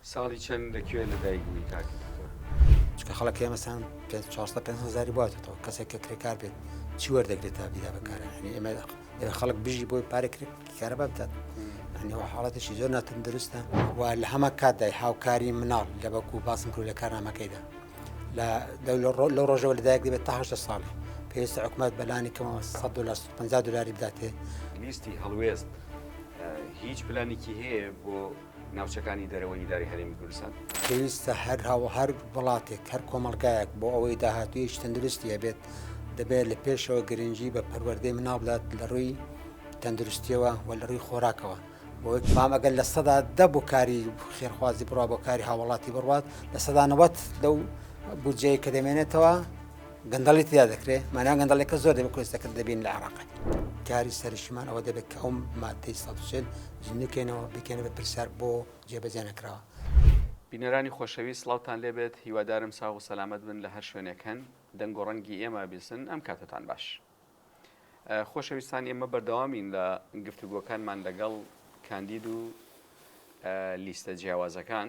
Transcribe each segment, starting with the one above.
ساڵی چەند لە کوێ لە دایک بووی کاک دکتۆر؟ چونکە خەڵک هەیە مەسەن پێنج چوار سەد پێنج سەد هەزاری بۆ هاتێتەوە کەسێک کە کرێکار بێت چی وەردەگرێت تا بیدا بەکارە یعنی ئێمە دەبێت خەڵک بژی بۆی پارێک کارەبا بدات یعنی ئەو حاڵەتێکی زۆر ناتەندروستە و لە هەمە کاتدای هاوکاری مناڵ لە بەکو باسم کرد لە کارنامەکەیدا لە دەولە ڕۆ لەو ڕۆژەوە لەدایک دەبێت تا هەشتا ساڵی پێویستە حکومت بەلانی کەمەوە 100 دلار 150 دلاری بداتێ لیستی هەڵوێست هیچ پلانێکی هەیە بۆ ناوچەکانی دەرەوەی ئیدارەی هەرێمی کوردستان. پێویستە هەر هاو هەر وڵاتێک هەر کۆمەڵگایەک بۆ ئەوەی داهاتوویەکی تەندروستی هەبێت دەبێت لە پێشەوە گرنگی بە پەروەردەی مناڵ بدات لە ڕووی تەندروستیەوە و لە ڕووی خۆراکەوە بۆی فام ئەگەر لە سەدا دە بۆ کاری خێرخوازی بڕوا بۆ کاری هاوڵاتی بڕوات لە سەدانەوەت لەو بودجەیە کە دەمێنێتەوە گەندەڵی تیا دەکرێ مانا گەندەڵێکە زۆر دەبێت کۆستەکرد دەبین لە عراق کاری سەرشمان ئەوە دەبێت کە ئەو مادەی سەسێن جنکەینەوە بکەێنە بە پرسیار بۆ جێبەجێ نەکراوە. بینەرانی خۆشەویست سڵاوتان لێبێت هیوادارم ساغ و سەلامەت بن لە هەر شوێنێک هەن دەنگ و ڕەنگی ئێمە بیسن ئەم کاتتان باش خۆشەویستان ئێمە بەردەوامین لە گفتوگۆکانمان لەگەڵ کاندید و لیستە جیاوازەکان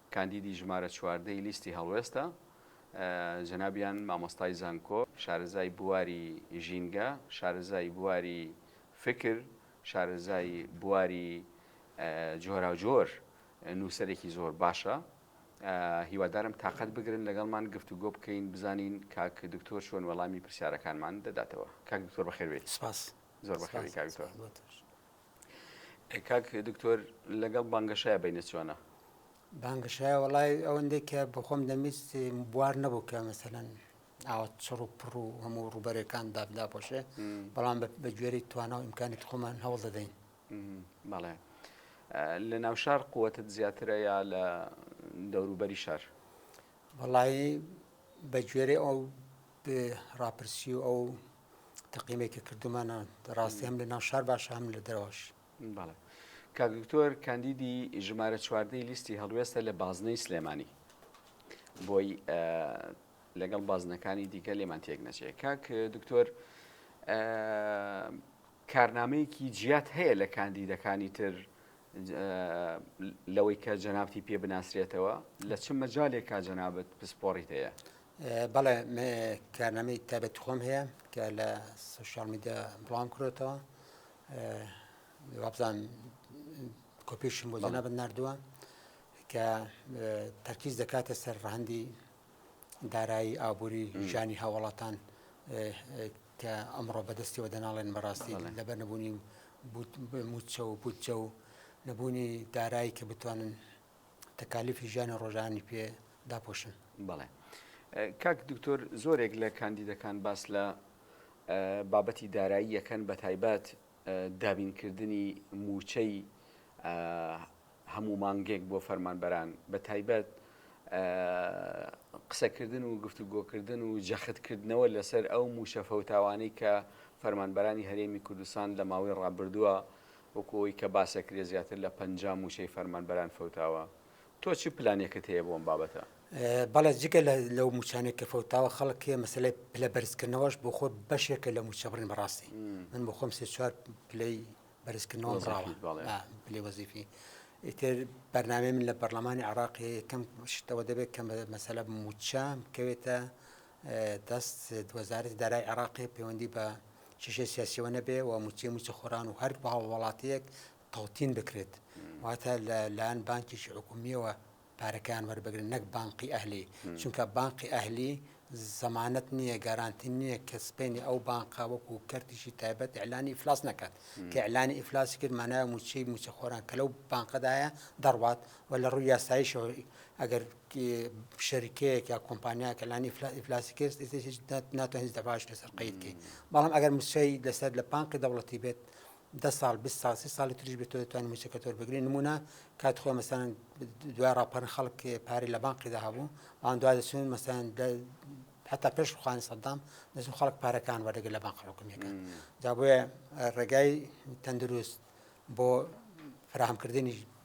کاندیدی ژمارە چواردە ی لیستی هەڵوێستە، جەنابیان مامۆستای زانکۆ، شارەزای بواری ژینگە، شارەزای بواری فکر، شارەزای بواری جۆراوجۆر، نووسەرێکی زۆر باشە، هیوادارم تاقەت بگرن لەگەڵمان گفتوگۆ بکەین بزانین کاک دکتۆر چۆن وەڵامی پرسیارەکانمان دەداتەوە. کاک دکتۆر بەخێربێیت. سپاس. زۆر بەخێربێی کاک دکتۆر. کاک دکتۆر لەگەڵ بانگەشایە بینە چۆنە بانگەشایە وڵای ئەوەندەی کە بخۆم دەمیست بوار نەبوو کە مەسەەن ئاوە چڕ و پڕ و هەموو ڕوبەرەکان دابدا پۆشێ بەڵام بە گوێری توانە و ئیمکانیت خۆمان هەوڵ دەدەین بەڵێ لە ناو شار قوتت زیاترە یا لە دەوروبەری شار وڵی بە گوێرە ئەو ڕاپرسی و ئەو تەقینێکی کردومانە ڕاستی هەم لە ناو شار باشە هەم لە دەرەوەش بەڵێ کاک دکتۆر کاندیدی ژمارە چواردەی لیستی هەڵوێستە لە بازنەی سلێمانی بۆی لەگەڵ بازنەکانی دیکە لێمان تێک نەچێ کاک دکتۆر کارنامەیەکی جیات هەیە لە کاندیدەکانی تر لەوەی کە جەنابتی پێ بناسرێتەوە لە چ مەجالێکا جەنابەت پسپۆڕیت هەیە بەڵێ کارنامەی تابەتی خۆم هەیە کە لە سوشال میدیا بڵام کرێتەوە وابزان کۆپیشم بۆ جەنابەت نردووە کە تەرکیز دەکاتە سەر ڕەهندی دارایی ئابووری ژانی هاوڵاتان کە ئەمڕۆ بەدەستیەوە دەناڵێن بەڕاستی لەبەر نەبوونی موچە و بودجە و نەبوونی دارایی کە بتوانن تەکالیفی ژیانی ڕۆژانی پێ داپۆشن بەڵێ کاک دکتۆر زۆرێک لە کاندیدەکان باس لە بابەتی دارایی یەکەن بە تایبەت دابینکردنی موچەی هەموو مانگێک بۆ فەرمانبەران بە تایبەت قسەکردن و گفتوگۆکردن و جەختکردنەوە لەسەر ئەو موشەفەوتاوانەی کە فەرمانبەرانی هەرێمی کوردستان لە ماوەی ڕابردووە وەکو ئەوەی کە باسەکرێ زیاتر لە پەنجا مووچەی فەرمانبەران فەوتاوە، تۆ چ پلانێکت هەیە بۆ ئەم بابەتە؟ بەڵێ جگە لەو مووچانەی کە فەوتاوە خەڵک مەسەلەی پلە بەرزکردنەوەش بۆ خۆی بەشێکە لە مووچە بڕین بەڕاستی من بۆ خۆم سێ چوار پلەی بەرزکردنەوەم ڕاوە پلەی وەزیفی ئیتر بەرنامەی من لە پەرلەمانی عێراقی کەم شتەوە دەبێت کە مەسەلە مووچە بکەوێتە دەست وەزارەتی دارای عێراقی پەیوەندی بە کێشەی سیاسیەوە نەبێ و موچەی موچەخۆران و هەر بە هەڵوڵاتیەک تەوتین بکرێت واتە لە لایەن بانکیشی حکومیەوە پارەکان وەربگرن نەک بانقی ئەهلی چونکە بانقی ئەهلی زەمانەت نییە گارانتی نییە کە سپێنی ئەو بانقا وەکو کەرتیشی تایبەت ئەلانی ئیفلاس نەکات کە ئەلانی ئیفلاسی کرد مانایە موچەی موچەخۆران کە لەو بانقەدایە دەڕوات و لە ڕووی یاساییشەوە ئەگەر شەریکەیەک یا کۆمپانیاکە لانی ئیفلاسی کرد ناتوانین هیچ دەباش لەسەر قەید بکەین بەڵام ئەگەر موچەی لەسەر لە پانقی دەوڵەتی بێت دە ساڵ بی ساڵ سی ساڵی تریش بێت دەتوانین موچەکە تۆر بگرین نمونە کات خۆ مەسەن دوای ڕاپەرن خەڵک پارەی لە بانقیدا هەبوو ئەوان دوای دەچون مەسەن حتا پێش خوانی سەدام دەچون خەڵک پارەکان وەرەگە لە بانق حکومیەکە جا بۆیە ڕێگای تەندروست بۆ فراهمکردنی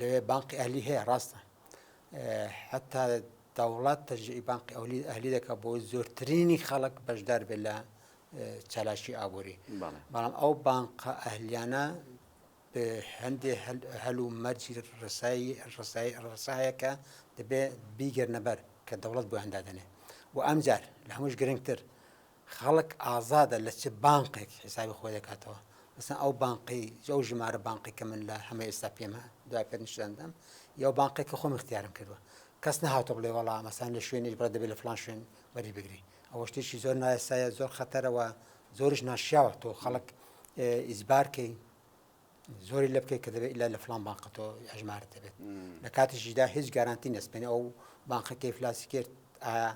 لەوێ بانقی ئەهلی هەیە ڕاستە حتا دەوڵات تەرجعی بانقی ئەولی ئەهلی دەکە بۆ زۆرترینی خەڵک بەشدار بێت لە چالاکی ئابووری بەڵام ئەو بانقە ئەهلیانە هەندێ هەل و مەرجی ڕسایی ڕسایی ڕسایەکە دەبێ بیگەرنەبەر کە دەوڵەت بۆ هەندادنێ و ئەمجار لە هەمووش گرنگتر خەڵک ئازادە لە چ بانقێک حیسابی خۆی دەکاتەوە مەسەن ئەو بانقەی ئەو ژمارە بانقی کە من لە هەمە ئێستا پێمە دوای پێت نیشتدەم یا بانقی کە خۆم اختیارم کردووە کەس نهاتۆ بڵێ وەڵا مەسان لە شوێنی بڕە دەبێت لە فلان شوێن وەری بگری ئەوە شتێکی زۆر نایسایە زۆر خەتەرەوە زۆرش ناشیاوە تۆ خەڵک ئیزبارکەی زۆری لە بکەیت کە دەبێت لە لە فلان بانقەتۆ ئەژمار دەبێت لە کاتیشیدا هیچ گارانتی نەسپێن ئەو بانقەکەی فلاسی کرد ئایا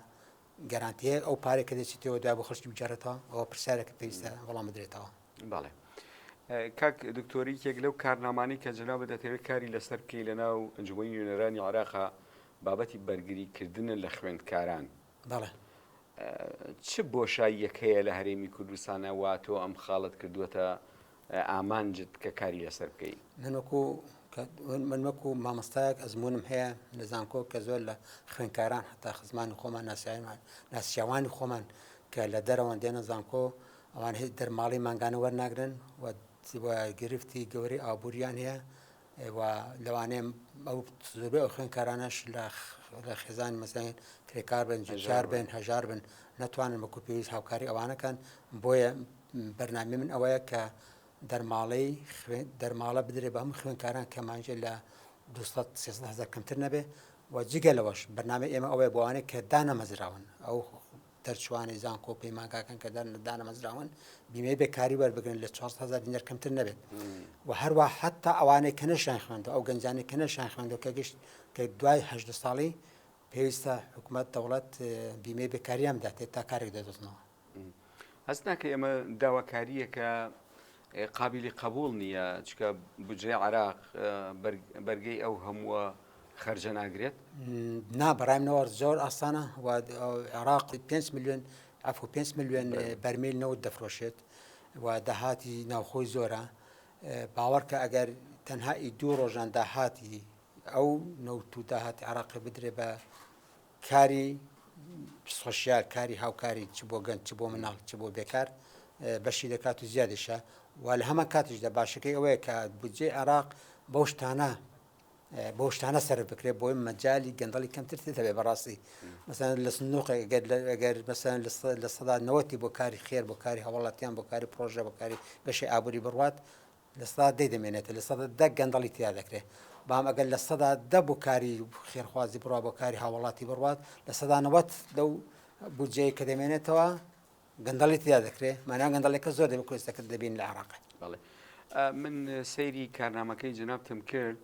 گەرانتییە ئەو پارێک کە دەچیتەوە دوای بۆ خشتی بجارێتەوە ئەوە پرسیارێکە پێویستە وەڵام بدرێتەوە بەڵێ. کاک دکتۆری یەک لەو کارنامانی کە جەناب دەتەوێت کاری لەسەر بکەی لە ناو ئەنجومی نوێنەرانی عراقا بابەتی بەرگریکردنە لە خوێندکاران بەڵێ چ بۆشاییەکەیە لە هەرێمی کوردستانە وا تۆ ئەم خاڵت کردووەتە ئامانجت کە کاری لەسەر بکەی. من وەکو من وەکو مامۆستایەک ئەزمونم هەیە لە زانکۆ کە زۆر لە خوێنکاران حتا خزمانی خۆمان ناسیاوان ناسیاوانی خۆمان کە لە دەرەوەن دێنە زانکۆ ئەوان هیچ دەرماڵی مانگانە وەرناگرن و گرفتی گەورەی ئابووریان هەیە لەوانەیە ئەو زۆربەی ئەو خوێنکارانەش لە لە خێزان مەسەن کرێکار بن جار بن هەژار بن ناتوانن بەکو پێویست هاوکاری ئەوانەکەن بۆیە بەرنامەی من ئەوەیە کە دەرماڵەی خوێن دەرماڵە بدرێت بە هەموو خوێنکاران کە مانجێ لە 200 هزار کەمتر نەبێ و جگە لەوەش بەنامە ئێمە ئەوەیە بۆوانێک کە دانەمەزراون ئەو دەرچوانی زانکۆ و پەیمانگاکان کە دانەمەزراون بیمەی بێکاری وەربگرن لە 400هزار دینەر کەمتر نەبێت و هەروە حتا ئەوانەی کە نەشان خوێندە ئەو گەنجانی کە نەشان خوێندە کە گشت کە دوای هه ساڵی پێویستە حکوومەت دەوڵەت بیمەی بێکاریان بداتێت تا کارێک دەدۆزنەوە هەست ناکەی ئەمە داواکارییەکە قابلی قبول نییە چکە بجێ عراق بەرگەی ئەو هەمووە خەرجە ناگرێت نا بەڕای منەوە زۆر ئاسانە عراق 5 میلیۆن ئەف 5 میلیۆن بەرمیل نەوت دەفرۆشێت و داهاتی ناوخۆی زۆرە باوەڕکە ئەگەر تەنها ئی دوو ڕۆژان داهاتی ئەو نەوت و داهاتی عراقی بدرێ بە کاری سۆشیال، کاری هاوکاری چ بۆ گەنج، چ بۆ مناڵ، چ بۆ بێکار بەشی دەکات و زیادیشە و لە هەمان کاتیشدا باشەکەی ئەوەیە کە بودجەی عێراق بەو شتانە بۆ شتانە سەر بکرێت بۆی مەجای گەندەڵی کەمتر دەبێت بەڕاستی مەسەن لە سنووقگەر مەسەن لە سەدا نەوەتی بۆ کاری خێر بۆ کاری هەوڵاتیان بۆ کاری پرۆژە بۆ کاری بەشی ئابووری بڕوات لە سەدا دەی دەمێنێتە لە سەدا دە گەندەڵی تیا دەکرێت بام ئەگەر لە سەدا دە بۆ کاری خێرخوازی بڕوا بۆ کاری هاوڵاتی بڕوات لە سەدا نەوەت لەو بودجەیە کە دەمێنێتەوە گەندەڵی تیا دەکرێت مانان گەندەڵێکە زۆر دەبێت کوێستەکرد دەبین لە عراق بڵێ من سەیری کارنامەکەی جنابتم کرد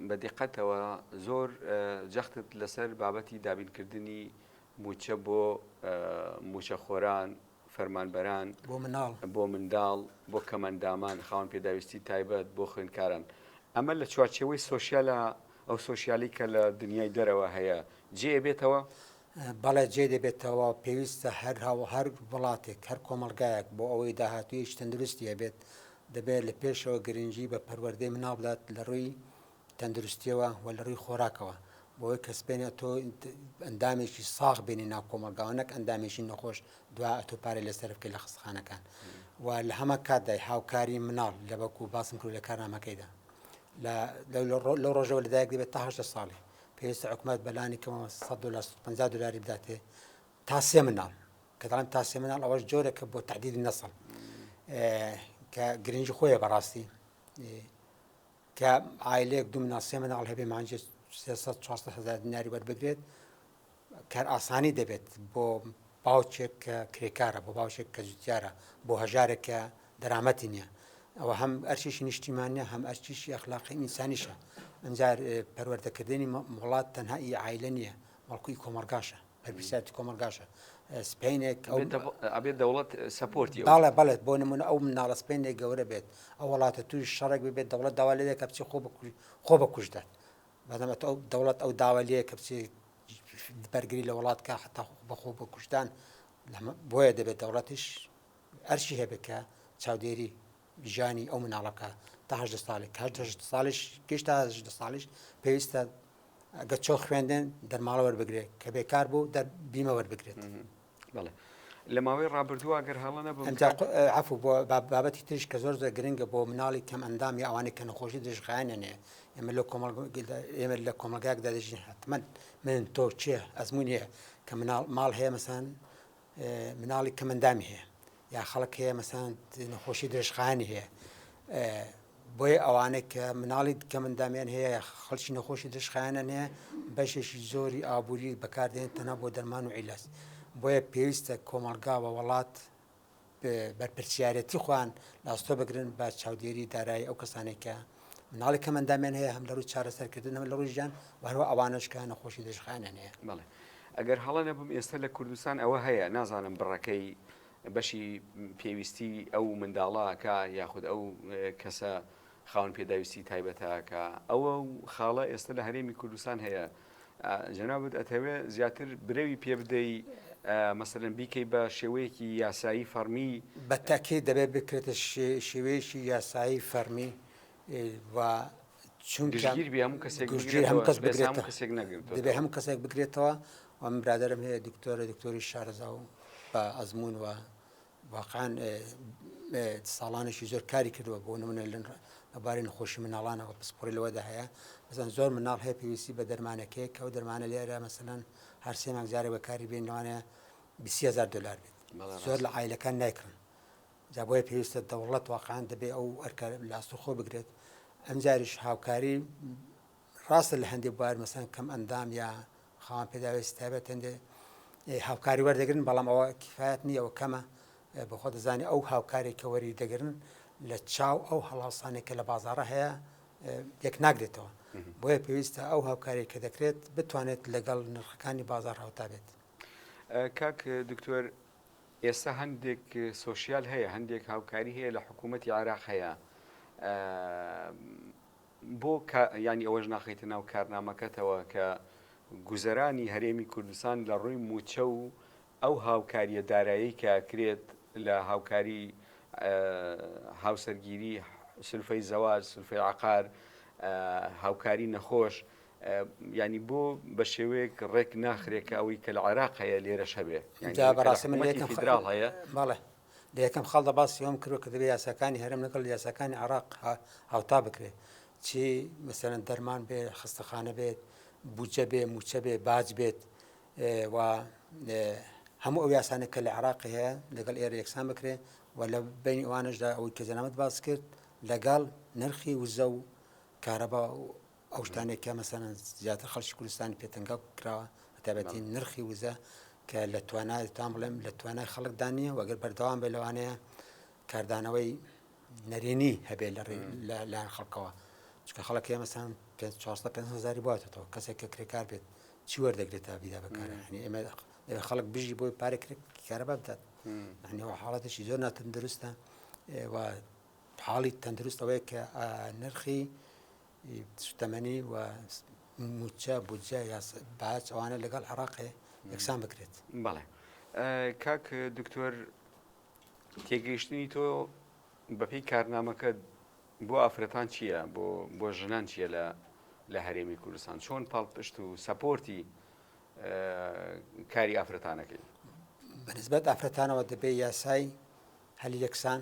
بە دیقەتەوە زۆر جەختت لەسەر بابەتی دابینکردنی موچە بۆ موچەخۆران فەرمانبەران، بۆ منداڵ، بۆ کەمئەندامان، خاوەن پێداویستی تایبەت، بۆ خوێندکاران. ئەمە لە چوارچێوەی سۆسیالە، ئەو سۆسیالی کە لە دنیای دەرەوە هەیە، جێ ئەبێتەوە؟ بەڵێ جێ دەبێتەوە، پێویستە هەر هەو هەر وڵاتێک، هەر کۆمەڵگایەک بۆ ئەوەی داهاتوویەکی تەندروستی هەبێت، دەبێت لە پێشەوە گرنگی بە پەروەردەی منداڵ بدات لە ڕووی تەندروستیەوە و لە ڕووی خۆراکەوە بۆی کە سپێنە تۆ ئەندامێکی ساغ بێنی ناو کۆمەلگاوە نەک ئەندامێکی نەخۆش دوا ئەتۆ پارێ لە سەرفکە لە خستخانەکان و لە هەمە کاتدای هاوکاری مناڵ لە بەکو باسم کرد لە کارنامەکەیدا لە ڕۆژەوە لەدایک دەبێت تاهشتە ساڵی پێویستە حکوومەت بەلانی کەەوە 150 دلاری بداتێ تا سێ مناڵ کەدان تا سێ مناڵ ئەوەش جۆرەکە بۆ تعدید نەسڵ کە گرنگی خۆیە بەڕاستی کە عایلەیەک دوو مناڵ سێ مناڵ هەبێ مانگێ سێ سەد چوار سەد هەزار دیناری وەربگرێت کارئاسانی دەبێت بۆ باوکێک کە کرێکارە بۆ باوشێک کە جوتیارە بۆ هەژارێک کە دەرامەتی نییە ئەوە هەم ئەرچیشی نیشتیمانە هەم ئەرچیشی ئەخلاقی ئینسانیشە ئەجار پەروەردەکردنی وڵات تەنها ئی عیلە نییە بەڵکوی کۆمەلگاشە بەرپرسیارەتی کۆمەڵگاشە سپینێک ئەبێت دەوڵەت سپۆرتی باڵێ بڵێت بۆ نمونە ئەو مناڵە سپێنێک گەورە بێت ئەو وڵاتە توی شەڕێک ببێت دەوڵەت داوا لێ دەکە بچی خۆ خۆ بەکوشدات بەدەمەت ئەو دەوڵەت ئەو داوا لێ کە بچێ بەرگری لە وڵات کا حتا بەخۆ بە کوشتان بۆیە دەبێت دەوڵەتیش ئەرشی هەبێت کە چاودێری ژیانی ئەو مناڵە بکە تا هەژدە ساڵێک کە هەژدە ساڵیش گەشتا هەژدە ساڵیش پێویستە گە چۆ خوێندن دەرماڵە وەربگرێت کە بێکار بوو دە بیمە وەربگرێت بڵێ لە ماوەی ڕابردووە گەر هەڵە نەبوو عفو بۆ بابەتی تریش کە زۆر زۆر گرنگە بۆ مناڵی کەم ئەندامی ئەوانەی کە نەخۆشی دژخایانێنێ ئێمە لە کۆمەڵ ئێمە لە کۆمەلگاکدا دەژین حتممە من تۆ چێ ئەزمونیە کە مناڵ ماڵ هەیە مەسان مناڵی کەمەندامی هەیە یا خەڵک هەیە مەسان نەخۆشی درێژخانی هەیە بۆیە ئەوانە کە مناڵی کەمەندامیان هەیە خەڵکی نەخۆشی درشخیانەن هەیە بەشێکی زۆری ئابووری بەکاردێن تەنە بۆ دەرمان و عیلس بۆیە پێویستە کۆمەلگا بە وڵات بەرپرسیارەتی خوان لاستۆ بگرن بە چاودێری دارایی ئەو کەسانێکە مناڵی کەم ئەندامیان هەیە هەم لە ڕووی چارەسەرکردن هەم لە ڕووی ژیان وهرو ئەوانش کە نەخۆشی دژخانیان هەیە بڵێ ئەگەر هەڵە نەبم ئێستا لە کوردستان ئەوە هەیە نازانم بڕەکەی بەشی پێویستی ئەو منداڵاکە یاخود ئەو کەسە خاون پێداویستی تایبەتەکە ئەوە خاڵە ئێستا لە هەرێمی کوردستان هەیە جەنابت ئەتەوێ زیاتر برەوی پێ بدەی مەسەرن بیکەی بە شێوەیەکی یاسایی فەرمی بە تاکێ دەبێت بکرێتە شێوەیەکی یاسایی فەرمی و چونگیر بێ هەموو کەسێک هەموو کەس بگرێت کەسێک نەگرێت دەبێت هەموو کەسێک بگرێتەوە و من برادرم هەیە دکتۆرە دکتۆری شارەزا و بە ئەزمون و واقعەن ساڵانێکی زۆر کاری کردووە بۆ نمونە لە بارەی نەخۆشی مناڵانەوە پسپۆری لەوەدا هەیە بزان زۆر مناڵ هەیە پێویستی بە دەرمانەکەی کە و دەرمانە لێرە مەسەەن هەر سێ مانگ جارە بەکاری بێن لەوانەیە 20هزار دلار بێت زۆر لە ئایلەکان نایکڕن جا بۆیە پێویستە دەوڵەت واقعان دەبێ ئەو ئەرکە لاستوخۆ بگرێت ئەمجاریش هاوکاری ڕاستە لە هەندێ بوار مەسەن کەم ئەندام یا خاوەن پێداوێسی تایبەت هەندێ هاوکاری وەردەگرن بەڵام ئەوە کفاەت نییە ئەو کەمە بەخۆ دەزانانی ئەو هاوکارێک کە وەری دەگرن لە چاو ئەو هەڵاوسانێک کە لە بازارە هەیە یەک ناگرێتەوە بۆیە پێویستە ئەو هاوکاری کە دەکرێت بتوانێت لەگەڵ نرخەکانی بازار هاوتا بێت کاک دکتۆر ئێستا هەندێک سوسیال هەیە هەندێک هاوکاری هەیە لە حکوومەتتی عراق هەیە بۆ کا یانی ئەوەش ناخەیتە ناو کارنامەکەتەوە کە گوزەرانی هەرێمی کوردستان لە ڕووی مووچە و ئەو هاوکارییە دارایەی کە ئەکرێت لە هاوکاری هاوسەرگیری سلفەی زەواج سلفەی عقار هاوکاری نەخۆش ینی بۆ بە شێوەیەک ڕێک ناخرێکە ئەوەی کە لە عێراق هەیە لێرەش هەبێ بەڕاستی فیدرال هەیە لە یەکەم خاڵدا باسی ئەوەم کردوە کە دەبێت یاساکانی هەرێم لەگەڵ یاساکانی عێراق هاوتا بکرێت چی مەسەرەن دەرمان بێ خستەخانە بێت بودجە بێ موچە بێ باج بێت و هەموو ئەو یاسانە کە لە عراقی هەیە لەگەڵ ئێرە یەکسان بکرێت و لە بین ئەوانشدا ئەوەی کە جەنامەت باس کرد لەگەڵ نرخی وزە و کارەبا ئەو شتانێک کە مەسەن زیاتر خەڵکی کوردستانی پێتەنگا کراوە بەتابەتی نرخی وزە کە لە توانای تام بڵێم لە توانای خەڵکدا نییە وەگەر بەردەوام بێ لەوانەیە کاردانەوەی نەرێنی هەبێ لە لایەن خەڵکەوە چکە خەڵک هەیە مەسان 500هزاری باتەوە کەسێک کە کرێکار بێت چی وەردەگرێت تا بیدا بەکارەکانی ئێمە دەبێت خەڵک بژی بۆی پارە کارەبا بدات نەوە حاڵەتێکی زۆر ناتەندروستە و حاڵی تەندروستەوەی کە نرخی سوتەمەنی و موچە بودجە یا باج ئەوانە لەگەڵ عێڕاقێ یەکسان بکرێت بەڵێ کاک دکتۆر تێگەیشتنی تۆ بەپی کارنامەکە بۆ ئافرەتان چییە بۆ بۆ ژنان چییە لە لە هەرێمی کوردستان چۆن پاڵپشت و سەپۆرتی کاری ئافرەتانەکەی بەنسبەت ئافرەتانەوە دەبێ یاسای هەلی یەکسان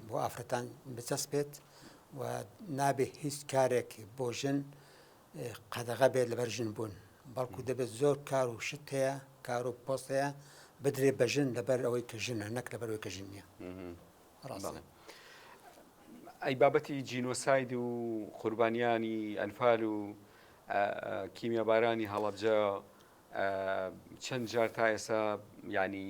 بۆ ئافرەتان بچەسپێت و نابێت هیچ کارێک بۆ ژن قەدەغە بێت لەبەر ژن بوون بەڵکو دەبێت زۆر کار و شت هەیە کار و پۆست هەیە بدرێ بە ژن لەبەر ئەوەی کە ژنە نەک لە بەرەوەی کە ژن نیە ئەی بابەتی جینۆساید و قوربانیانی ئەنفال و کیمیابارانی هەڵەبجە چەند جار تا ئێستا یانی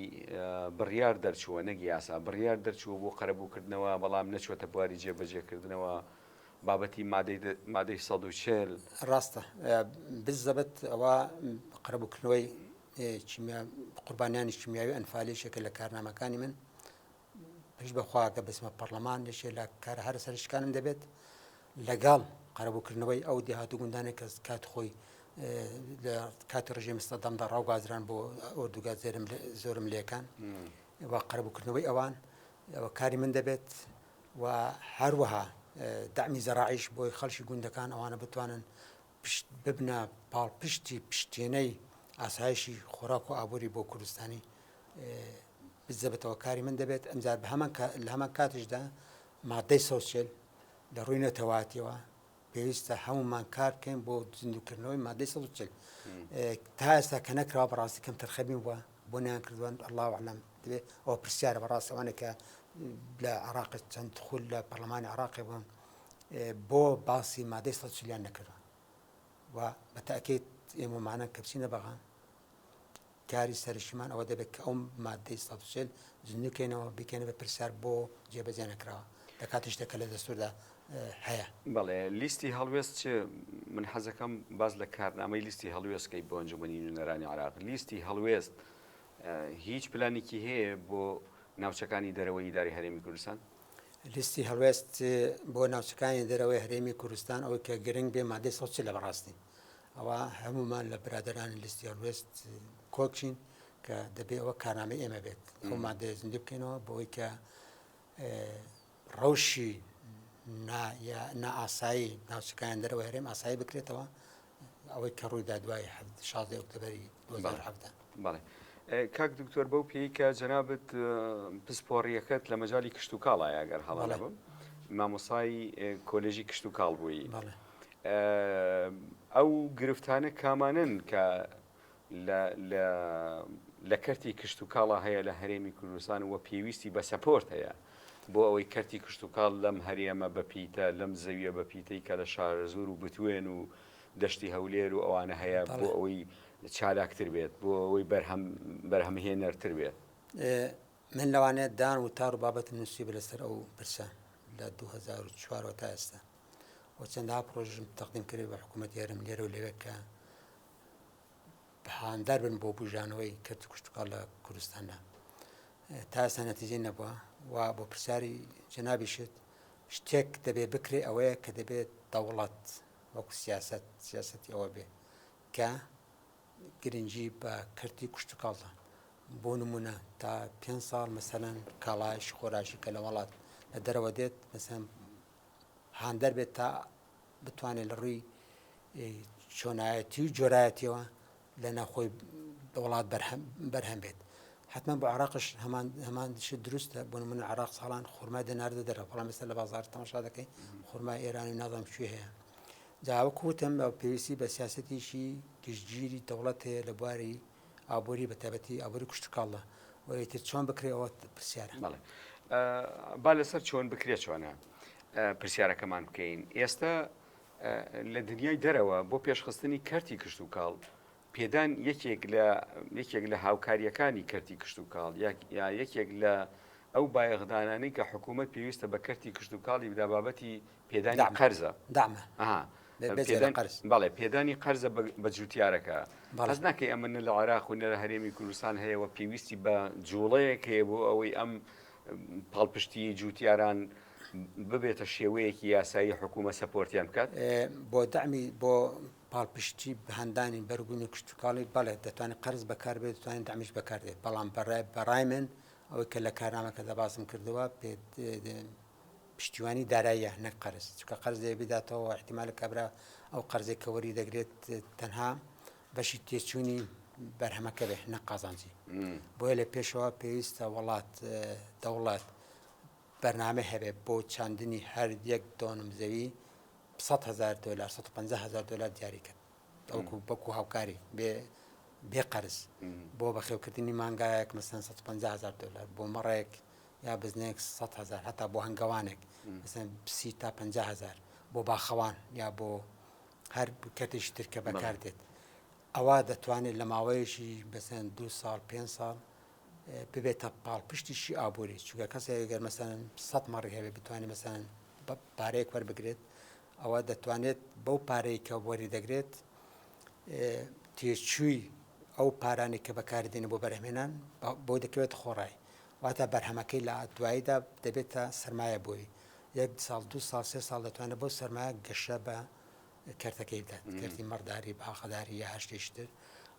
بڕیار دەرچووە نەک یاسا بڕیار دەرچووە بۆ قەرەبووکردنەوە بەڵام نەچوەتە بواری جێبەجێکردنەوە بابەتی مادەی سەد و چێل ڕاستە بزەبت ئەوە قەرەبووکردنەوەی قوربانیانی شمیاوی ئەنفالێشێکە لە کارنامەکانی من پشت بە خوا کە بچمە پەڕلەمان یەکێ لە کارە هەرە سەرشکانم دەبێت لەگەڵ قەرەبووکردنەوەی ئەو دێهات و گوندانێک کە کات خۆی لە کاتی ڕژێمی سەدەمدا ڕاوگازران بۆ ئۆردوگا زێرم زۆرم لێکان و قەرەبووکردنەوەی ئەوان ئەوە کاری من دەبێت و هەروەها دامی زەراعیش بۆی خەڵکی گوندەکان ئەوانە بتوانن پشت ببنە پاڵپشتی پشتێنەی ئاسایشی خۆراک و ئابووری بۆ کوردستانی بزەبێتەوە کاری من دەبێت ئەمجار بە هەمان لە هەمان کاتیشدا مادەی سەوسێل لە ڕووی نەتەواتیەوە پێویستە هەمومان کار بکەین بۆ زیندوکردنەوەی مادەی سەوسێل تا ئێستا کە نەکراوە بەڕاستی کەم تەرخەبین وە بۆ نیان کردوان الله عالم دەبێت ئەو پرسیارە بەڕاستەوانێکە لە عراق چەند خول لە پەرلەمانی عراقی بوون بۆ باسی مادەی سەد چلیان نەکرا و بە تاکیت ئێمەمانە کە بچینە بەغان کاری سەرشمان ئەوە دەبێت کە ئەو مادەی سەچل زنوکەینەوە بکەنە بە پرسیار بۆ جێبەجێ نەکراوە لە کاتی شتەکە لە دەستوردا هەیە بەڵێ لیستی هەڵوێست چ من حەزەکەم باز لە کارنامەی لیستی هەڵوێستکەی بۆ ئەنجومنی نوێنەرانی عراق لیستی هەڵوێست هیچ پلانێکی هەیە بۆ ناوچەکانی دەرەوەی داری هەرێمی کوردستان لیستی هەڵوێست بۆ ناوچەکانی دەرەوەی هەرێمی کوردستان ئەوەی کە گرنگ بێ مادەی سەد لە بەڕاستی ئەوە هەمومان لە برادرانی لیستی هەڵوێست کۆچین کە دەبێ ئەوە کارنامە ئێمە بێت ئەو مادەیە زیندوو بکەینەوە بۆی کە ڕەوشی نائاسایی ناوچەکان دەرەوە هەرێم ئاسایی بکرێتەوە ئەوەی کە ڕوویدا دوای حەفت شازدە ئۆکتۆبەری دوو هەزار و حەڤدە. بەڵێ کاک دکتۆر بەو پێی کە جەنابت پسپۆڕیەکەت لە مەجای کشت و کاڵە ئەگەر هەڵە نەبم مامۆسای کۆلێژی کشت و کاڵ بووی ئەو گرفتانە کامانن کە لە لە کەرتی کشتوکاڵا هەیە لە هەرێمی کوردستان و پێویستی بە سەپۆرت هەیە بۆ ئەوەی کەرتی کشتوکاڵ لەم هەرێمە بە پیتە لەم زەویە بە پیتەی کە لە شارەزوور و بتوێن و دەشتی هەولێر و ئەوانە هەیە بۆ ئەوەی چالاکتر بێت بۆ ئەوەی بەرهەم بەرهەمهێنەرتر بێت من لەوانەیە دان و تار و بابەتم نووسی بە لەسەر ئەو پرسە لە 2004 تا ئێستا و چەندها پرۆژم تەقدیم کرد بە حکوومەت یارم لێرە و لەوێکە هاندار بن بۆ بژانەوەی کەرت و کشتتوکاڵ لە کوردستاندا تا ئێستا نەتیجەی نەبووە و بۆ پرسیاری جەنابیشت شتێک دەبێت بکرێ ئەوەیە کە دەبێت دەوڵەت وەکو سیاست سیاستی ئەوە بێ کە گرنگی بە کەرتی کوشتتوکاڵدا بۆ نمونە تا پێ ساڵ مەسەەن کاڵایش خۆراشی کە لە وڵات لە دەرەوە دێت مەسەن هاندەر بێت تا بتوانێت لە ڕووی چۆنایەتی و جۆرایەتیەوە لە ناخۆی وڵات بەرهەم بێت حتمما بۆ عراقش هەمان هەمان شت دروستە بۆ من عراق ساڵان خورمای دەناردە دەرە بەڵام ئێستا لە بازار تەماشا دەکەین خورمای ئێران و نازانم کوێ هەیە جاوە کوتم پێویستی بە سیاستێکی گشتگیری دەوڵەت هەیە لە بواری ئابوری بە تایبەتی ئابوری کوشتکاڵدا و ئیتر چۆن بکرێ ئەوە پرسیارە بەڵێ با لەسەر چۆن بکرێت چۆنە پرسیارەکەمان بکەین ئێستا لە دنیای دەرەوە بۆ پێشخستنی کەرتی کشت و کاڵ پێدان یەکێک لە یەکێک لە هاوکاریەکانی کەرتی کشت و کاڵ یا یەکێک لە ئەو بایەغدانانی کە حکوومەت پێویستە بە کەرتی کشت و کاڵی بدابابەتی پێدانی قەرزە دامە بەڵێ پێدانی قەرزە بە جوتیارەکە بەڵز ناکەی ئەمە نە لە عراق و نەرە هەرێمی کوردستان هەیە و پێویستی بە جوڵەیەک هەیە بۆ ئەوەی ئەم پاڵپشتی جوتیاران ببێتە شێوەیەکی یاسایی حکوومە سەپۆرتیان بکات بۆ دامی بۆ پاڵپشتی هەندانی بەرگونی کشتتوکڵی بەڵێ دەتوانانی قرز بەکاربێت دەتوانین دامیش بەکاردێت بەڵام بەڕای بەڕای من ئەوەی کە لە کارنامەکە دەبازم کردەوە پێ پشتیوانی داراییە نەک قەرز چونکە قەرز لێ بداتەوە احتیمال کابرا ئەو قەرزێک کە وەری دەگرێت تەنها بەشی تێچووی بەرهەمەکە بێ نە قازانجی بۆیە لە پێشەوە پێویستە وڵات دەوڵات بەرنامە هەبێت بۆ چاندنی هەر یەک دۆنم زەوی 100 هزار دلار 150 هزار دلار دیاری کرد ئەوکو بەکو هاوکاری بێ بێ قەرز بۆ بەخێوکردنی مانگایەک مەسەن 150 هزار دلار بۆ مەڕێک یا بزنێک سەد هەزار هەتا بۆ هەنگەوانێک مەسەن سی تا پنج هزار بۆ باخەوان یا بۆ هەر کەتیش ترکە بەکار دێت ئەوە دەتوانێت لە ماوەیەکی بەسەن دو ساڵ پێ ساڵ ببێتە پاڵ پشتیشی ئابووری چووکە کەسێک گەر مەسەن سە مەڕی هەبێ بتوانێت مەسەن پارەیەک وەربگرێت ئەوە دەتوانێت بەو پارەی کە وەری دەگرێت تێچووی ئەو پارانی کە بەکاردێنە بۆ بەرهمێنان بۆ دەکەوێت خۆڕای واتە بەرهەمەکەی لە دواییدا دەبێتە سەرمایە بۆی یەک ساڵ دو ساڵ سێ ساڵ دەتوانێت بۆ سەرمایە گەشە بە کەرتەکەی بدات کردی مەڕداری باخەداری یا هەشتیشتر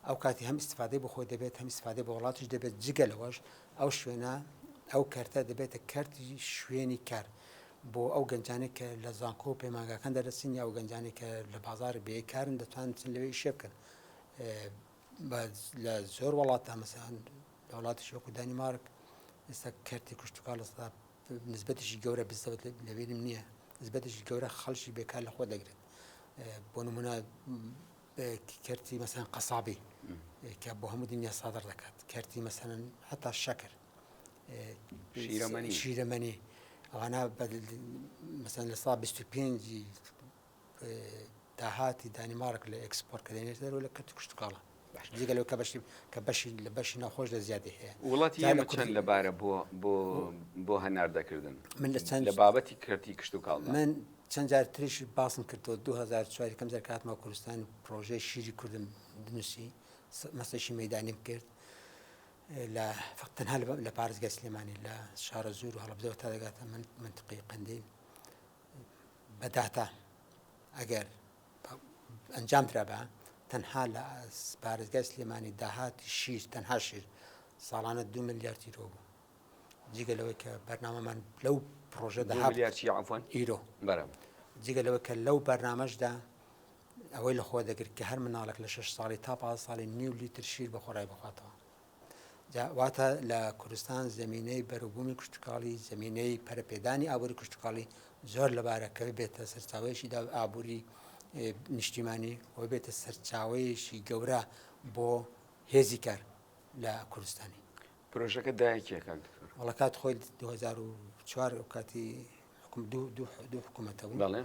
ئەو کاتی هەم استفادەی بۆ خۆی دەبێت هەم استفادەی بۆ وڵاتیش دەبێت جگە لەوەش ئەو شوێنە ئەو کەرتە دەبێتە کەرتی شوێنی کار بۆ ئەو گەنجانی کە لە زانکۆ و پەیمانگاکان دەرەسین یا ئەو گەنجانی کە لە بازار بێ کارن دەتوانن لەوێ شێ بکەن لە زۆر وڵاتدا مەسەن لە وڵاتیش وەکو دانیمارک ئێستا کەرتی کوشتتوکە لە ستا نسبەتیشی گەورە بزەوت لەبیرم نییە نسبەتیشی گەورە خەڵکی بێکار لە خۆ دەگرێت بۆ نمونە کەرتی مەسەن قەسابی کە بۆ هەموو دنیا سادر دەکات کەرتی مەسەن حتا شەکر شیرەمەنی ئەوانە مەسەن لە سا 25 داهاتی دانیمارک لە ئێکسپۆرتکردنی دەرەوە لە کەرتی کشتوکاڵە جگە لەوە کە بەشی کە بەشی لە بەشی ناوخۆش لە زیادی هەیە وڵاتی جا لە ئێمە چەند کوردی- لەبارە بۆ بۆ بۆ هەناردەکردن من لە چەند- لە بابەتی کەرتی کشتوکاڵ من چەند جار تریش باسم کردەوە 2004 یەکەم جار کە هاتمە کوردستان و پرۆژەی شیری کوردم دنووسی س- مەسەشی مەدانیم کرد لە فقط تەنها لە- لە پارێزگای سلێمانی لە شارەزوور و هەڵەبجەوە تا دەگاتە من منتقی قندیل بە داتا ئەگەر ئەنجام درابا تەنها لە پارێزگای سلێمانی داهاتی شیر تەنها شیر ساڵانە دو ملیار تیرۆ بوو جگە لەوەی کە بەرنامەمان لەو پرۆژە داهاوان ئیرۆ بەرم جگە لەوە کە لەو بەرنمەشدا ئەوەی لە خۆ دەگرت کە هەر مناڵک لە شش ساڵی تا پا ساڵی نیو لیتر شیر بە خۆڕای بخواتەوە جا واتە لە کوردستان زمینەی بەروبوومی کشتتوکاڵی زمینەی پەرپێدانی ئابووری کشتتوکاڵی زۆر لەبارە کە بێتە سەرچاوەیەشی دا ئابووری نیشتیمانی و بێتە سەرچاوەیەشی گەورە بۆ هێزی کار لە کوردستانی پرۆژەکە دایکیەکان وڵە کات خۆی 2004 کاتی حکم دوو حکوومەتە بوو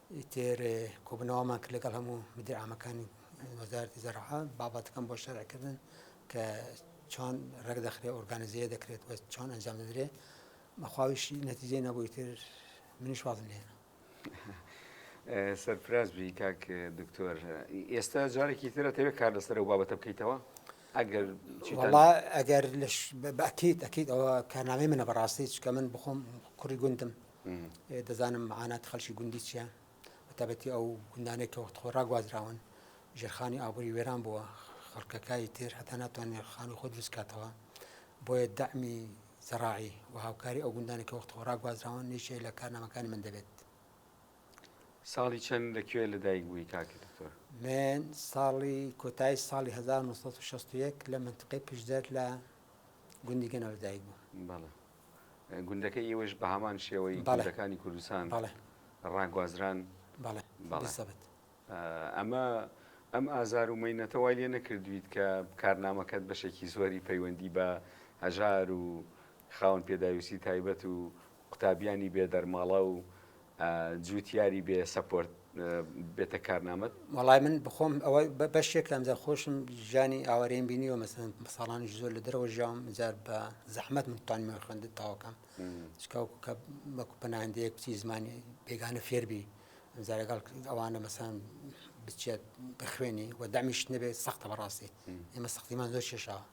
ئیتر کۆبوونەوەمان کرد لەگەڵ هەموو مدیرعامەکانی وەزارەتی زەراعە بابەتەکەم بۆ شەرعکردن کە چۆن ڕێک دەخرێ ئۆرگانزیە دەکرێت و چۆن ئەنجام دەدرێ بەخواویشی نەتیجێ نەبووی تر منیش وازم لێنە سەرفراز بی کاک دکتۆر ئێستا جارێکی ترە تەوێت کار لەسەر و بابەتە بکەیتەوە ئەگەر ئەگەر بەکیت ئەکیت ئەوە کارنامەی منە بەڕاستی چکە من بخۆم کوڕی گوندم دەزانم معاناتی خەڵکی گوندی چیە بەتابەتی ئەو گوندانەی کە وەخت خۆ ڕاگوازراون ژێرخانی ئابووری وێران بووە خەڵکەکانی تر هەتا ناتوانێت خانی خۆ دروستکاتەوە بۆیە دەعمی زەڕاعی و هاوکاری ئەو گوندانی کە وەخت خۆ ڕاگوازراون نیشێ لە کارنامەکانی من دەبێت ساڵی چەند لە کوێ لەدایک بووی کاکی دکتۆر من ساڵی کۆتایی ساڵی 1960 لە منتقی پشدەر لە گوندی گەنەوە لەدایک بوو بەڵێ گوندەکەی ئێوەش بە هەمان شێوەی گوندەکانی کوردستان ڕاگوازران ئەمە ئەم ئازار و مینەتە وای لێ نەکردویت کە کارنامەکەت بەشێکی زۆری پەیوەندی بە هەژار و خاون پێداویستی تایبەت و قوتابیانی بێدەرماڵە و جوتیاری بێ سەپۆرت بێتە کارنامەت وڵای من بخۆم ئەوە بەشێک لەم زەر خۆشم ژانی ئاوارێن بینیوە مەسن ساڵانیش زۆر لە درەوە ژام جار بە زەحمت منتان من خوێندت تاوەکەم چکاوکو کە بەکو پەناهندەیەک بچی زمانی بێگانە فێربی زارەگەڵ ئەوانە مەسان بچێت بخوێنی و دەمیش نەبێت سەختە بەڕاستی ئێمە سەختیمان زۆر شێشاوە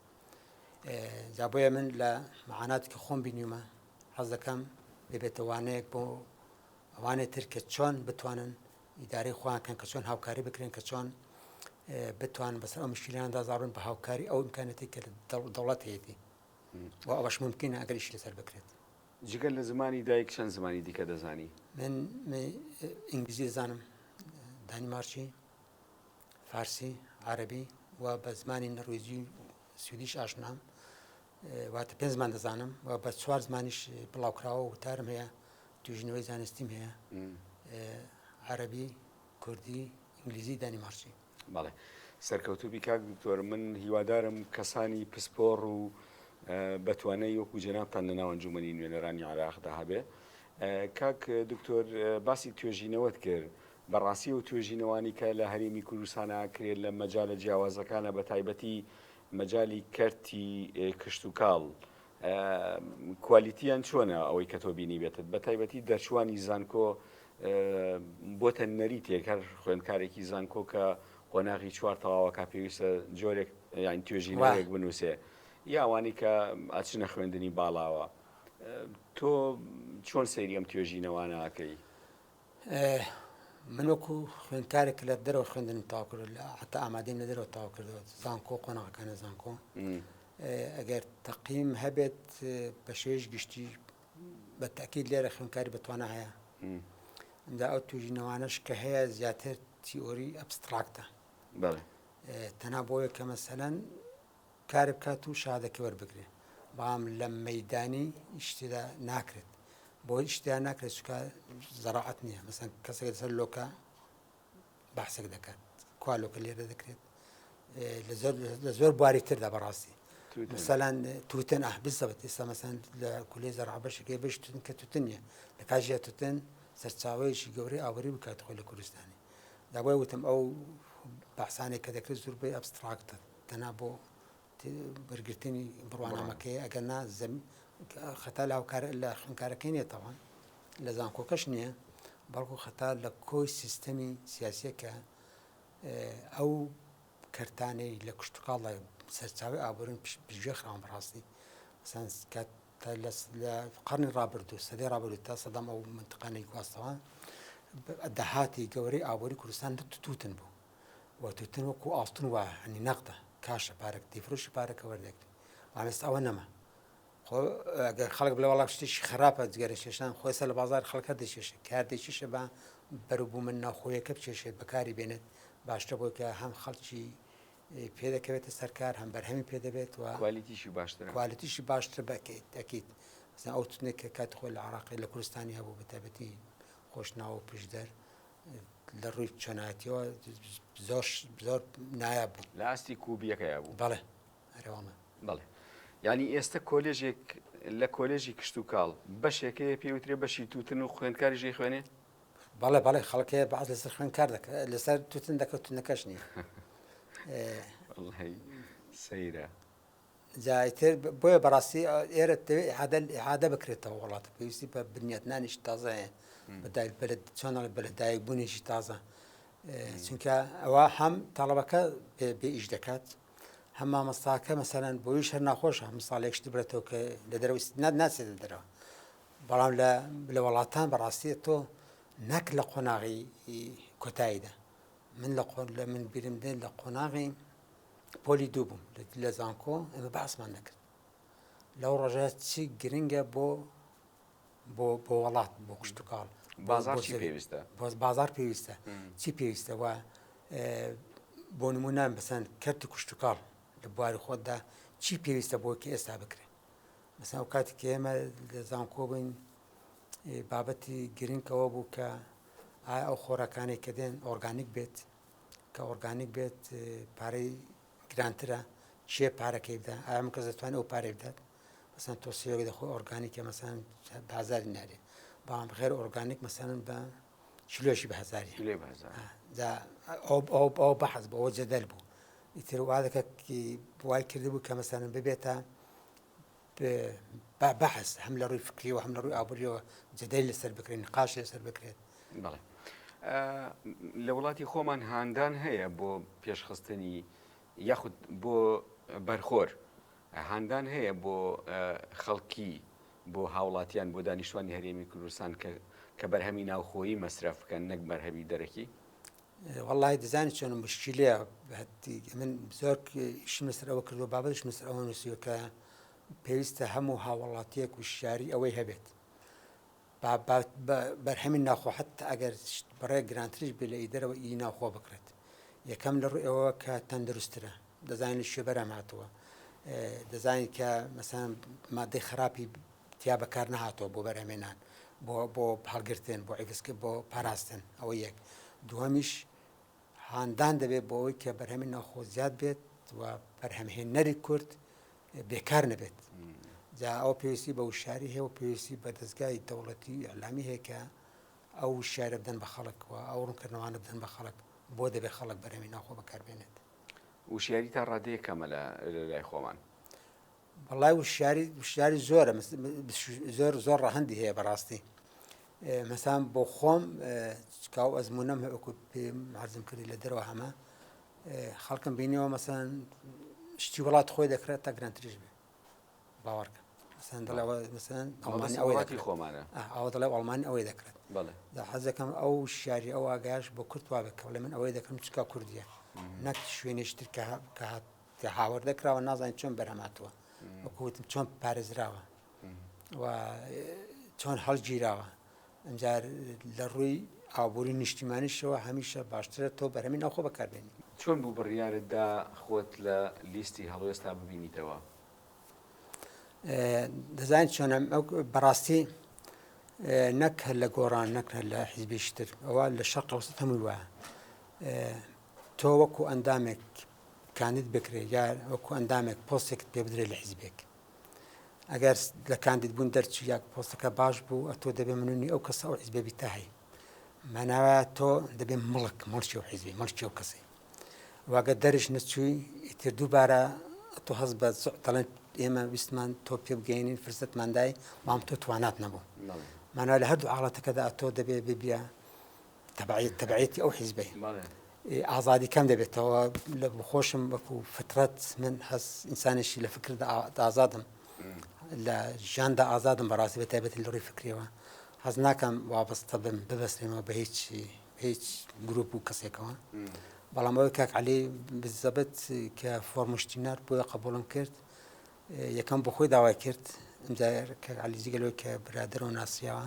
جا بۆیە من لە معانات کە خۆم بینیومە حەز دەکەم ببێتە وانەیەک بۆ ئەوانێ تر کە چۆن بتوانن ئیدارەی خۆیان کەن کە چۆن هاوکاری بکرێن کە چۆن بتوان بەسەر ئەو مشکلاندا زارون بە هاوکاری ئەو امکانەتی کە دەوڵەت هەیەی و ئەوەش ممکنە ئەگەریش لەسەر بکرێت جگە لە زمانی دایک چەند زمانی دیکە دەزانی من ئینگلیزی زانم دانیمارچی فارسی عربی و بە زمانی نەڕویجی سویدیش ئاشنام واتە پێنج زمان دەزانم و بە چوار زمانیش بڵاوکراوە و تارم هەیە توژنەوەی زانستیم هەیە عەربی کوردی ئینگلیزی دانیمارچی بەڵێ سەرکەوتوبی کاک دکتۆر من هیوادارم کەسانی پسپۆڕ و بەتوانەی وەکو جەنابان لە ناوەنجومنی نوێنەرانی عراقدا هەبێ کاک دکتۆر باسی توێژینەوەت کرد بەڕاستی و توێژینەوانی کە لە هەرێمی کوردستانە کرێت لە مەجالە جیاوازەکانە بە تایبەتی مەجالی کەرتی کشتوکاڵ کوالیتیان چۆنە ئەوەی کە تۆ بینی بێتت بە تایبەتی دەرچوانی زانکۆ بۆتە نەریتێک هەر خوێندکارێکی زانکۆ کە قۆناغی چوار تەواوەکە پێویستە جۆرێک یان توێژینەوەێک بنووسێ یاوانی کە ئاچنە خوێندنی باڵاوە تۆ چۆن سەیریم توێژینەوانەکەی من وەکو خوێندکارێک لە دەرەوە خوێندنم تاو کرد لە حتا ئامادەیم لە دەرەوە تاو کردەوە زانکۆ قۆناغەکانە زانکۆ ئەگەر تەقیم هەبێت بە شێش گشتی بە تاکیید لێرە خوێندکاری بەتوانە هەیە دا ئەو توژینەوانش کە هەیە زیاتر تیۆری ئەبستراکتە تەنا بۆیە کە مەسەەن کار بکات و شەهادەکەی وەربگرێ بەڵام لە مەیدانی ئیشتدا ناکرێت بۆ ئیشتدا ناکرێت چکە زەراعەت نییە مەسەن کەسێک سەر لۆکە باسێک دەکات کوا لۆکە لێرە دەکرێت لە زۆر بواری تردا بەڕاستی مثلەن توتن ئە بزەبت ئێستا مەسەن لە کولی زەرعبەشەکەی بشتن کە توتن نیە لە کاژە توتن سەرچاوەیەکی گەورەی ئاوری بکات خۆی لە کوردستانی دابای وتم ئەو باسانێک کە دەکرێت زۆربەی ئەبستراکتن تەنها بۆ وەرگرتنی بڕوانامەکەیە ئەگەر نا زەم خەتا لاوکار لە خوێنکارەکەی نیە تاوان لە زانکۆکەش نییە بەڵکو خەتا لە کۆی سیستەمی سیاسیەکە ئەو کەرتانەی لە کوشتتوکڵە سەرچاوی ئابرون پێشێ خراون بڕاستی سانسکات لە قڕنی ڕابردوو سەدی ڕابردوو تا سەدام ئەو منتقانەی گواستەوە داهاتی گەورەی ئابووری کوردستان تووتن بوو و توتن وەکو ئاڵتون وایە هەنی نەقدە کاشە پارەک تێفرۆشی پارەکە وەرنەگری بەڵام ئێستا ئەوە نەما خۆ ئەگەر خەڵک بڵێ وەڵام شتێکی خراپە جگەرە کێشان خۆی سەر لە بازار خەڵکە دەچێشێ کار دەچێشێ بە بەروبوومە ناوخۆیەکە بچێشێت بەکاری بێنێت باشتە بۆی کە هەم خەڵکی پێ دەکەوێتە سەرکار هەم بەرهەمی پێ دەبێت و کوالیتیشی باشتر کوالیتیشی باشتر بکەیت دەکەیت ئەو تونێک کە کات خۆی لە عراقی لە کوردستانی هەبوو بەتابەتی خۆشناوە پشدەر لە ڕووی چۆنایەتیەوە زۆر زۆر نایاب بوو لە ئاستی کوبیەکەیا بوو بەڵێ ئەرێوەڵە بەڵێ ینی ئێستا کۆلێژێک لە کۆلێژی کشت و کاڵ بەشێکەیە پێوترێ بەشی توتن و خوێندکاریژی خوێنێ بەڵێ بەڵێ خەڵکەیە بەعات لەسەر خوێن کار دەکە لەسەر توتن دەکەوتنەکەش نیە سەیرە جا ئیتر بۆیە بەڕاستی ئێرە دەوێت ئحادە ئحادە بکرێتەوە وڵاتە پێویستی بە بنیاتنانیش تازایە بەدای بەلد چۆنەڵ بەلەدایک بوونیشی تازە چونکە ئەوە هەم تەڵەبەکە بێ ئیش دەکات هەم مامەستاکە مەسەرەن بۆی شەر ناخۆش هەم ساڵێکش دبرێتەوە کە لە دەرەوە نات ناچێت دەرەوە بەڵام لە وڵاتان بەڕاستی تۆ نەک لە قۆناغی کۆتاییدا من لە قۆن لە من بیرم دێن لە قۆناغی پۆلی دوو بووم لە زانکۆ ئێمە باسمان دەکرد لەو ڕۆژە چی گرنگە بۆ بۆ بۆ وڵات بۆ قشتتوکاڵ بازار پێویستە بۆ بازار پێویستە چی پێویستەوە بۆ نمونان بەسەن کەرتی کوشتتوکاڵ لە بواری خۆتدا چی پێویستە بۆ کە ئێستا بکرێت مەسا و کاتی کە ئێمە لە زانکۆ بووین بابەتی گرنگەوە بوو کە ئایا ئەو خۆراکانی کە دێن ئۆرگانیک بێت کە ئۆرگانیک بێت پارەی گرانترە چێ پارەکەی بدە ئایا من کەس دەتوانێت ئەو پارەی بدات مەسەن تۆسیۆگە دەخۆ ئۆرگانیکە مەسەن بازاری نارێت بەڵام غێر ئۆرگانیک مەسەن بە چلۆشی بە هزاری لێ ئەو بەحز بەەوە جەدەل بوو ئیتر وادەکە وای کردبوو کە مەسەن ببێتە با بەحس هەم لە ڕووی فکریەوە هەم لە ڕووی ئابووریەوە جدەی لەسەر بکرێن نقاش لەسەر بکرێت بەڵێ لە وڵاتی خۆمان هاندان هەیە بۆ پێشخستنی یاخود بۆ بەرخۆر هاندان هەیە بۆ خەڵکی بۆ هاوڵاتیان بۆ دانیشتوانی هەرێمی کوردستان کە کە بەرهەمی ناوخۆیی مەسرف بکەن نەک بەرهەمی دەرەکی وەڵاهی دەزانی چۆنە مشکیلەیە من زۆر ئیشی مەسەر ئەوە کردو بابەتش مەسەر ئەوە نووسیوە کە پێویستە هەموو هاوڵاتیەک و شاری ئەوەی هەبێت بەرهەمی ناخۆ حتا ئەگەر بڕێ گرانتریش بێ لە ئی دەرەوە ئی ناخۆ بکرێت یەکەم لە ڕوو ئەوە کە تەندروسترە دەزانانی شوێ بەرەم هاتووە دەزانین کە مەسان مادەی خراپی تیا بەکار نەهاتووە بۆ بەرهەمێنان بۆ بۆ هەڵگرتن بۆ ئەگسکە بۆ پاراستن ئەوە یەک دووەمیش هاندان دەبێت بۆ ئەوەی کە بەرهەمی ناوخۆ زیاد بێت و بەرهەمهێنەری کورد بێکار نەبێت جا ئەو پێویستی بە وشاری هەیە و پێویستی بە دەستگای دەوڵەتی ئەلامی هەیەکە ئەو شارە بدەن بە خەڵکەوە ئەو ڕوونکردنەوانە بدەن بە خەڵک بۆ دەبێ خەڵک بەرەمی ناخۆ بەکاربێنێت وشیاری تا ڕادەیە کەمە لە لای خۆمان وەڵای وشیاری وشیاری زۆرە زۆر زۆر ڕەهەندی هەیە بەڕاستی مەسان بۆ خۆم چکاو ئەزمونم هەکو پێم حەزم کردی لە دەرەوە هەمە خەڵکم بینیەوە مەسان شتی وڵات خۆی دەکرێت تا گرانتریش بێ باوەڕکە مەسان دڵەوە مەسان ئەڵمانی ئەوەی دەکری خۆمانە ئەوە دڵێ ئەڵمانی ئەوەی دەکرێت دا حەزەکەم ئەو شاری ئەو ئاگاش بۆ کورتوا بکەڵێ من ئەوەی دەکەم چکا کوردیە نەک شوێنێشتر کە هات کە هاوردە کراوە نازانین چۆن بەرهەماتوە وەکو وتم چۆن پارێزراوە و چۆن هەڵگیراوە ئەجار لە ڕووی ئابووری نیشتیمانیشەوە هەمیشە باشترە تۆ بەرەمی ناخۆ بەکاربێنی چۆن بوو بڕیارتدا خۆت لە لیستی هەڵوێستا ببینیتەوە دەزانین چۆن بەڕاستی نەک هەر لە گۆڕان نەک هەر لە حیزبیشتر ئەوە لە شەق ئەوسە هەمووی وایە تۆ وەکو ئەندامێک کاندید بکرێت یا وەکو ئەندامێک پۆستێکت پێ بدرێت لە حیزبێک ئەگەر لە کاندید بوون دەرچی یا پۆستەکە باش بوو ئەتۆ دەبێ منونی ئەو کەسە ئەو حیزبێ بیتە هەیە ماناوە تۆ دەبێ مڵک مڵکی و حیزبی مڵکی و کەسی واگە دەرش نەچووی ئیتر دووبارە تۆ هەز بە تەڵێن ئێمە ویستمان تۆ پێ بگەینین فرسەتماندای مام تۆ توانات نەبوو مانا لە هەردوو حاڵەتەکەدا تۆ دەبێ ببیە تەبعیەت تەبعیەتی ئەو حیزبەی ئازادی کەم دەبێتەوە لە خۆشم وەکو فترەت من هەس ئینسانێکی لە فکردا ئازادم لە ژیاندا ئازادم بەڕاستی بە تایبەتی لە ڕووی فکرەوە حەز ناکەم وابستە بم ببەستێنەوە بە هیچ هیچ گروپ و کەسێکەوە بەڵام ئەوەی کاک علی بزەبت کە فۆرمشتینار بۆیە قبولم کرد یەکەم بۆ خۆی داوای کرد ئەمجار کە علیجیگەلەوە کە برادەرەوە ناسیەوە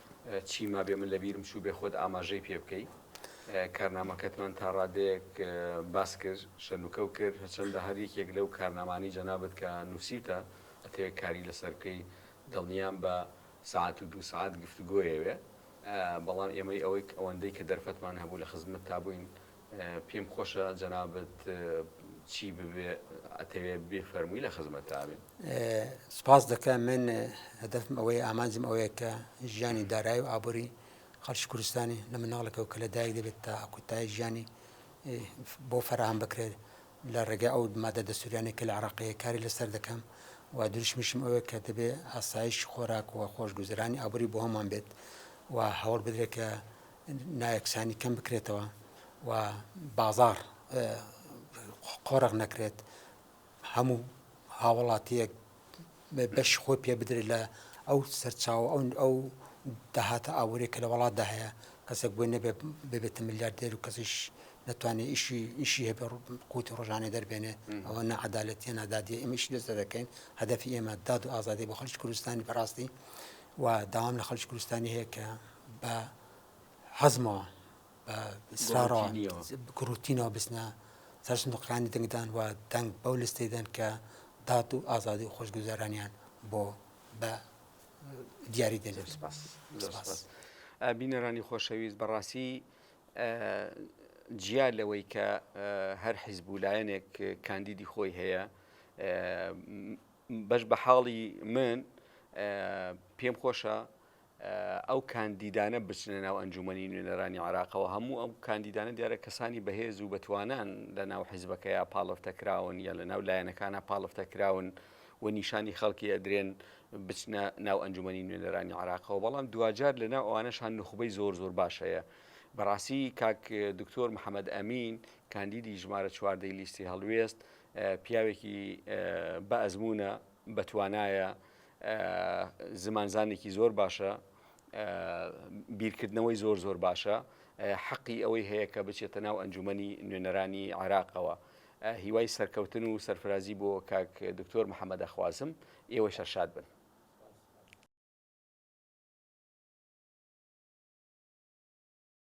چی مابێ من لەبیرم چووبێ خۆت ئاماژەی پێ بکەی. کارنامەکەتمان تا ڕادەیەک باس کرد، شەنوکەو کرد، هەرچەندە هەر یەکێک لەو کارنامانەی جەنابت کە نووسیوتە ئەتەوێ کاری لەسەر بکەی دڵنیام بە سەعات و دوو سەعات گفتوگۆیەوێ، بەڵام ئێمەی ئەوەی ئەوەندەی کە دەرفەتمان هەبوو لە خزمەتتا بووین پێم خۆشە جەنابت چی ببێ ئەتەوێ بێ فەرمووی لە خزمەتتا بێ سپاس دەکە من هەدەفم ئەوەی ئامانجم ئەوەیە کە ژیانی دارایی و ئابووری خەڵکی کوردستانی لە مناڵەکە و کە لە دایک دەبێت تا کوتای ژیانی بۆ فراهام بکرێت لە ڕێگەی ئەو مادە دەسووریانە کە لە عراقەیە کاری لەسەر دەکەم و دروشمیشم ئەوەیە کە دەبێ ئاسایش خۆراک و خۆشگوزرانی ئابووری بۆ هەمان بێت و هەوڵ بدرێت کە نایەکسانی کەم بکرێتەوە و بازاڕ قۆرغ نەکرێت هەموو هاوڵاتیەک بەشی خۆی پێ بدرێت لە ئەو سەرچاوە ئەو ئەو داهاتە ئاوەێک کە لە وڵاتدا هەیە کەسێک بۆی نەبێ ببێتە ملیار دێر و کەسیش نتوانێت ئیشی ئیشی هەبێ قوتی ڕۆژانێ دەربێنێ ئەوە نەعادالەتە نادادی ئەمیش لەسەر دەکەین هەدەفی ئێمە داد و ئازادی بۆ خەلکی کوردستانی بەڕاستی و داوام لە خەلکی کوردستانی هەیە کە بە حەزمەوە بە سرارەوە گروتینەوە بچنە سەرش نقلانی دەنگدان و دەنگ بەو لستەی دەن کە دات و ئازادی و خۆشگوزارانیان بۆ بە دیاری دەێن سپاس بینەرانی خۆشەویست بەڕاستی جیا لەوەی کە هەر حیزب و لایەنێک کاندیدی خۆی هەیە بەش بە حاڵی من پێم خۆشە ئەو کاندیدانە بچنە ناو ئەنجوومەنی نوێنەرانی عێراقەوە، هەموو ئەو کاندیدانە دیارە کەسانی بەهێز و بەتوانان لەناو حیزبەکەیا پاڵفتە کراون یا لەناو لایەنەکانا پاڵفتە کراون و نیشانی خەڵکی ئەدرێن بچنە ناو ئەنجوومەنی نوێنەرانی عێراقەوە، بەڵام دواجار لەناو ئەوانەشان نوخبەی زۆر زۆر باش هەیە. بەڕاستی کاک دکتۆر محەمەد ئەمین کاندیدی ژمارە چواردەی لیستی هەڵوێست پیاوێکی بە ئەزموونە، بەتوانایە، زمانزانێکی زۆر باشە، بیرکردنەوەی زۆر زۆر باشە، حەقی ئەوەی هەیە کە بچێتە ناو ئەنجومەنی نوێنەرانی عێراقەوە. هیوای سەرکەوتن و سەرفرازی بۆ کاک دکتۆر محەمەد ئەخوازم، ئێوەش هەر شاد بن.